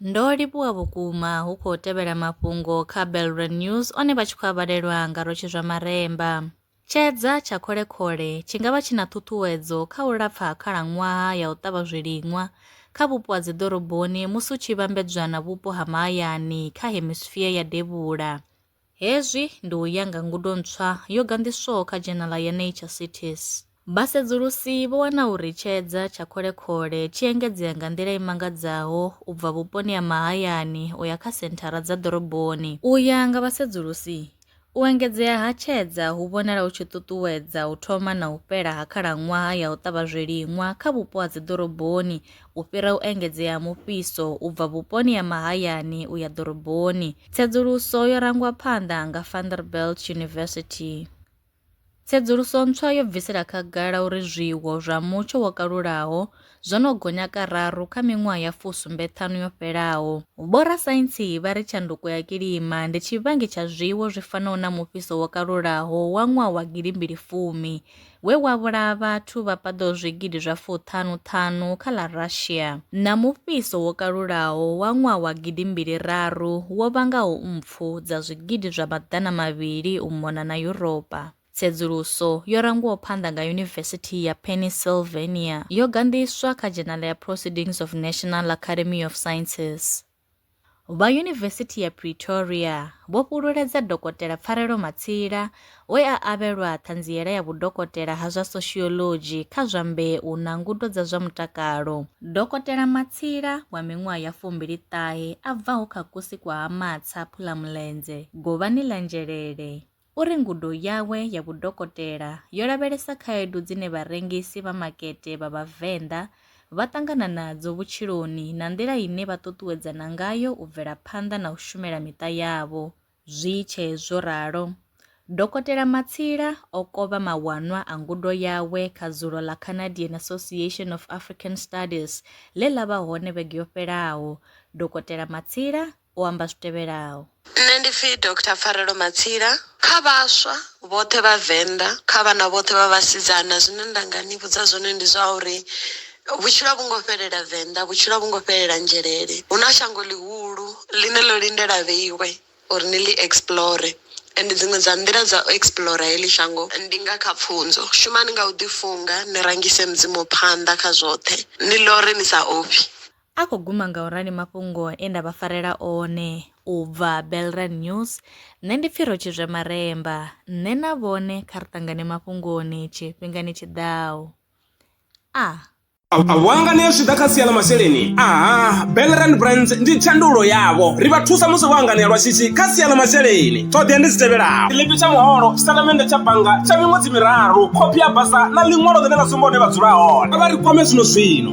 ndo livhuwa vhukuma hu khou tevhela mafhungo kha belre news one vha tshi khou avhalelwa nga rotshi zwa maremba tshedza tsha kholekhole tshi nga vha tshi na ṱhuṱhuwedzo kha u lapfa ha khalaṅwaha ya u ṱavha zwiliṅwa kha vhupo ha dziḓoroboni musi u tshi vhambedzwa na vhupo ha mahayani kha hemisphere ya devhula Hezwi ndi u ya nga ngudo ntswa yo ganḓiswaho kha dzhenala ya Nature Cities. Vhasedzulusi vho wana uri tshedza tsha Khole-khole tshi engedzea nga nḓila i mangadzaho u bva vhuponi ha mahayani u ya kha senthara dza ḓoroboni. U ya nga vhasedzulusi, u engedzea ha tshedza hu vhonala hu tshi ṱuṱuwedza u thoma na u fhela ha khalaṅwaha ya u ṱavha zwiliṅwa kha vhupo ha dziḓoroboni u fhira u engedzea ha mufhiso u bva vhuponi ha mahayani u ya ḓoroboni. Tsedzuluso yo rangwa phanḓa nga Vanderbilt University. Tsedzuluso ntswa yo bvisela khagala uri zwiwo zwa mutsho wo kalulaho zwo no gonya kararu kha miṅwaha ya fusumbeṱhanu yo fhelaho. Vhorasaintsi vha ri tshanduko ya kilima ndi tshivhangi tsha zwiwo zwi fanaho na mufhiso wo kalulaho wa ṅwaha wa gidi mbili fumi we wa vhulaha vhathu vha paḓaho zwigidi zwa fuṱhanu-ṱhanu kha ḽa Russia, na mufhiso wo kalulaho wa ṅwaha wa gidi mbili raru wo vhangaho mpfu dza zwigidi zwa maḓana mavhili u mona na Yuropa. Tsedzuluso yo rangiwaho phanḓa nga Yunivesithi ya Pennsylvania yo ganḓiswa kha dzhenala ya Proceedings of National Academy of Sciences. Vha Yunivesithi ya Pretoria vho fhululedza Dokotela Pfarelo Matsila we a avhelwa ṱhanziela ya vhudokotela ha zwa Sociology kha zwa Mbeu na Ngudo dza zwa Mutakalo. Dokotela Matsila wa miṅwaha ya fumbili ṱahe a bvaho kha kusi kwa Ha Matsa, Phulamulenzhe, Govhani ḽa Nzhelele, U ri ngudo yawe ya vhudokotela yo lavhelesa khaedu dzine vharengisi vha makete vha Vhavenḓa vha ṱangana nadzo vhutshiloni na nḓila ine vha ṱuṱuwedzana ngayo u bvela phanḓa na u shumela miṱa yavho. Zwi tshe zwo ralo, Dokotela Matsila o kovha mawanwa a ngudo yawe kha dzulo ḽa Canadian Association of African Studies ḽe ḽa vha hone vhege yo fhelaho. Dokotela Matsila u amba zwi tevhelaho. Nṋe ndi pfi Doctor Pfarelo Matsila. Kha vhaswa vhoṱhe vha Venḓa, kha vhana vhoṱhe vha vhasidzana zwine nda nga ni vhudza zwone ndi zwa uri vhutshilo a vhu ngo fhelela Venḓa, vhutshilo a vhu ngo fhelela Nzhelele. Hu na shango ḽihulu ḽine ḽo lindela vheiwe uri ni ḽi explore and dziṅwe dza nḓila dza u explore heḽi shango ndi nga kha pfunzo. Shumani nga u ḓi funga, ni rangise Mudzimu phanḓa kha zwoṱhe, ni ḽore ni sa ofhi. A khou guma nga u rali mafhungo e nda vha farela one u bva Belrand News, Nṋe ndi pfi Rotshizwe Maremba. Nṋe na vhone kha ri ṱangane mafhungoni tshifhingani tshi ḓaho. A. A vho anganea zwi tshi ḓa kha sia ḽa masheleni? Aha, Belrand Brands ndi thandululo yavho. Ri vha thusa musi vho anganea lwa shishi kha sia ḽa masheleni. Ṱhoḓea ndi dzi tevhelaho. Tshiḽipi tsha muholo, tshitatamennde tsha bannga tsha miṅwedzi miraru, khophi ya basa na ḽiṅwalo ḽine ḽa sumba hune vha dzula hone. Kha vha ri kwame zwino zwino.